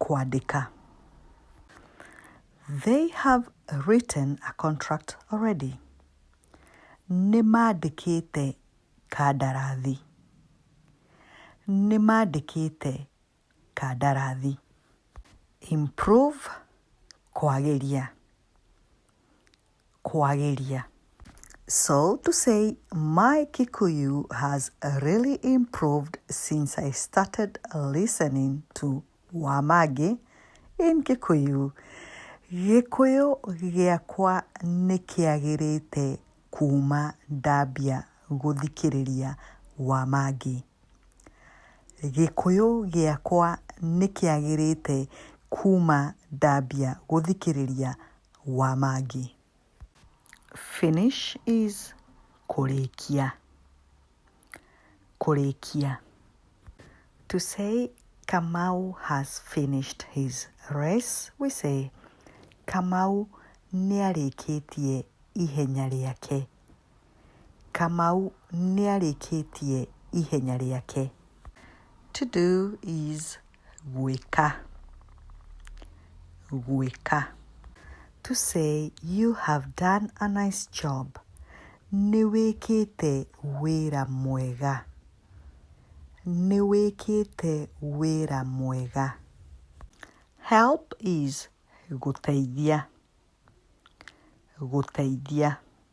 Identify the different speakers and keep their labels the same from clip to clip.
Speaker 1: kwandĩka. They have written a contract already. Nĩ mandĩkĩte kandarathi. Nĩ mandĩkĩte kandarathi. Improve, kwagĩria. kwagĩria. So to say my Kikuyu has really improved since I started listening to Wamangi in Kikuyu. Gĩkũyũ gĩakwa nĩ kĩagĩrĩte kuma ndambia gũthikĩrĩria Wamangi. Gĩkũyũ gĩakwa nĩ kĩagĩrĩte kuma ndambia gũthikĩrĩria wa Maggi. Finish is kũrĩkia, kũrĩkia. To say Kamau has finished his race, we say Kamau nĩarĩkĩtie ihenya rĩake. Kamau nĩarĩkĩtie ihenya rĩake. To do is gwĩka, gwĩka. To say you have done a nice job, nĩwĩkĩte wĩra mwega, nĩwĩkĩte wĩra mwega. Help is gũteithia, gũteithia.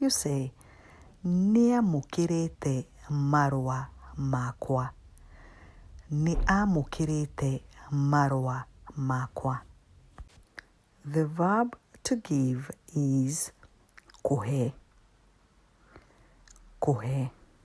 Speaker 1: Yuse nĩamũkĩrĩte marũa makwa. Nĩ amũkĩrĩte marũa makwa. The verb to give is kũhe, kũhe.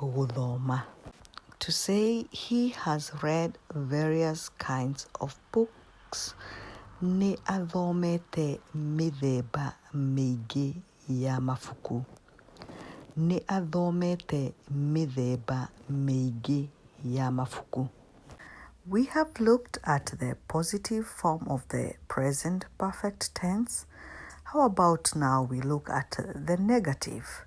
Speaker 1: gũthoma. To say he has read various kinds of books, nĩ athomete mĩthemba mĩingĩ ya mabuku. Nĩ athomete mĩthemba mĩingĩ ya mabuku. We have looked at the positive form of the present perfect tense. How about now we look at the negative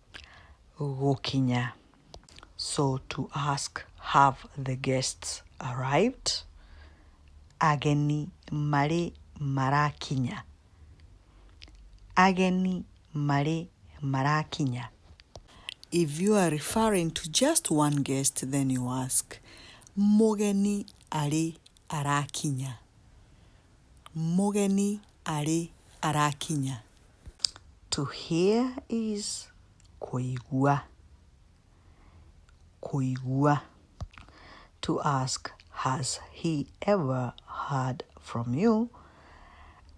Speaker 1: gũkinya. So to ask have the guests arrived, ageni marĩ marakinya. Ageni marĩ marakinya. If you are referring to just one guest, then you ask mũgeni arĩ arakinya. mũgeni arĩ arakinya. To hear is kũigua, kũigua. To ask, has he ever heard from you?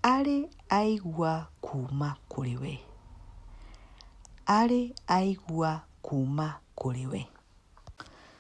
Speaker 1: Arĩ aigua kuma kũrĩ we, arĩ aigua kuma kũrĩ we.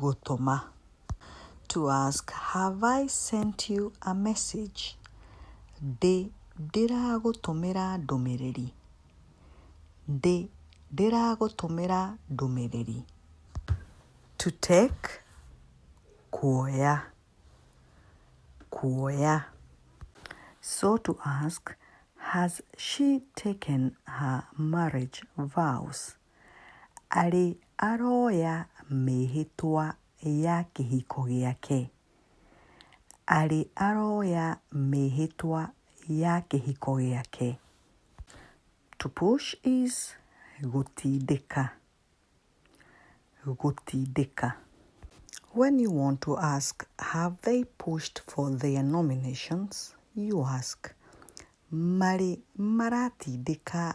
Speaker 1: gũtũma. To ask, Have I sent you a message? Ndĩ ndĩragũtũmĩra ndũmĩrĩri. Ndĩ ndĩragũtũmĩra ndũmĩrĩri. To take, kuoya, kuoya. So to ask, Has she taken her marriage vows? arĩ aroya mĩĩhĩtwa ya kĩhiko gĩake, arĩ aroya mĩĩhĩtwa ya kĩhiko gĩake. To push is gũtindĩka, gũtindĩka. When you want to ask have they pushed for their nominations you ask marĩ maratindĩka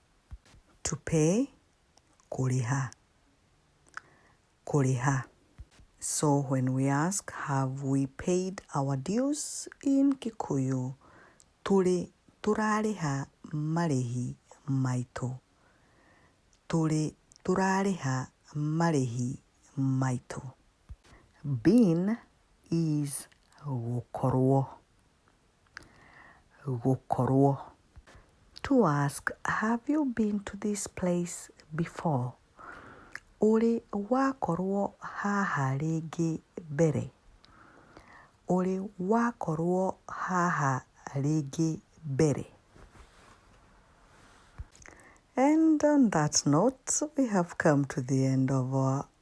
Speaker 1: To pay, kũrĩha, kũrĩha. So when we ask, have we paid our dues in Kikuyu? Tũrĩ, tũrarĩha marĩhi maitũ. Tũrĩ, tũrarĩha marĩhi maitũ. Been is gũkorwo. gũkorwo. To ask, have you been to this place before? Ũrĩ wakorwo haha rĩngĩ mbere? Ũrĩ wakorwo haha rĩngĩ mbere? And on that note, we have come to the end of our